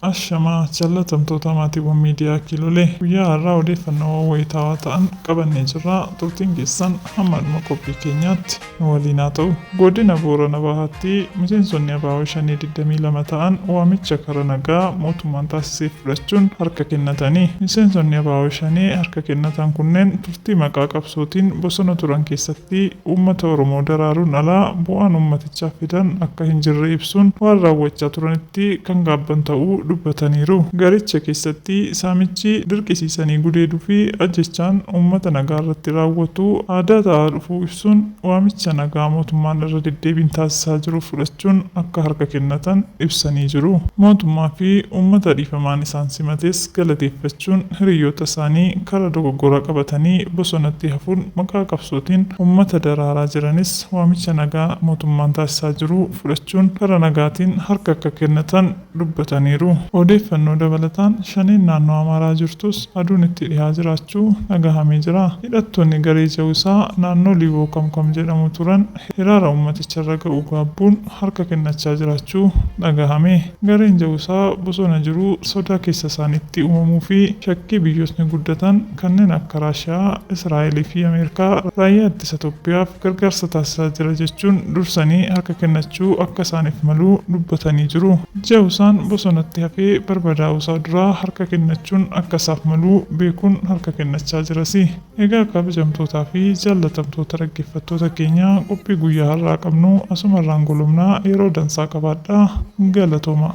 Ashamaa jaalatamtoota maatiiwwan miidiyaa Kiilolee guyyaa har'aa odeeffannoowwan wayitaawaa ta'an qabannee jirra turtiin keessan hamma dhuma qophii keenyaatti nu waliin haa ta'u. Godina Boorana Bahaatti miseensonni Abaawoo Shanee 22 ta'an waamicha kara nagaa mootummaan taasiseef fudhachuun harka kennatanii miseensonni Abaawoo Shanee harka kennatan kunneen Nuti maqaa qabsootiin bosona turan keessatti uummata Oromoo daraaruun ala bu'aan uummatichaaf fidan akka hin jirre ibsuun, waan raawwachaa turanitti kan gaabban ta'uu dubbataniiru. Garicha keessatti saamichi, dirqisiisanii gudeeduufi ajjeechaan uummata nagaarratti raawwatu aadaa ta'aa dhufuu ibsuun, Waamicha nagaa mootummaan irra deddeebiin taasisaa jiru fudhachuun akka harka kennatan ibsanii jiru. Mootummaa fi uummata dhiifamaan isaan simates galateeffachuun hiriyyoota isaanii karaa dogoggoraa qabatanii bosonatti hafuun maqaa qabsootiin uummata daraaraa jiranis waamicha nagaa mootummaan taasisaa jiru fudhachuun karaa nagaatiin harka akka kennatan dubbataniiru. Odeeffannoo dabalataan Shaneen naannoo Amaaraa jirtus aduun itti dhihaa jiraachuu dhagahamee jira. Hidhattoonni garee Jawisaa naannoo Liiboo Kamkam jedhamu turan hiraara uummaticharra ga'u gaabbuun harka kennachaa jiraachuu dhagahame. Gareen Jawisaa bosona jiru sodaa keessa isaaniitti uumamuufi shakkii biyyootni guddatan kanneen akka Raashiyaa, Israa'eliifi Ameerikaa raayyaa ittisa Toophiyaaf, gargaarsa taasisaa jira jechuun dursanii harka kennachuu akka isaaniif malu dubbatanii jiru. Jawusaan bosonatti hafee barbadaa'uusaa duraa harka kennachuun akka isaaf malu beekuun harka kennachaa jirasi. Egaa kabajamtootaa fi jaallatamtoota dhaggeeffattoota keenya qophii guyyaa har'aa qabnu asumarraan golobna yeroo dansaa qabaadhaa. Galatoomaa.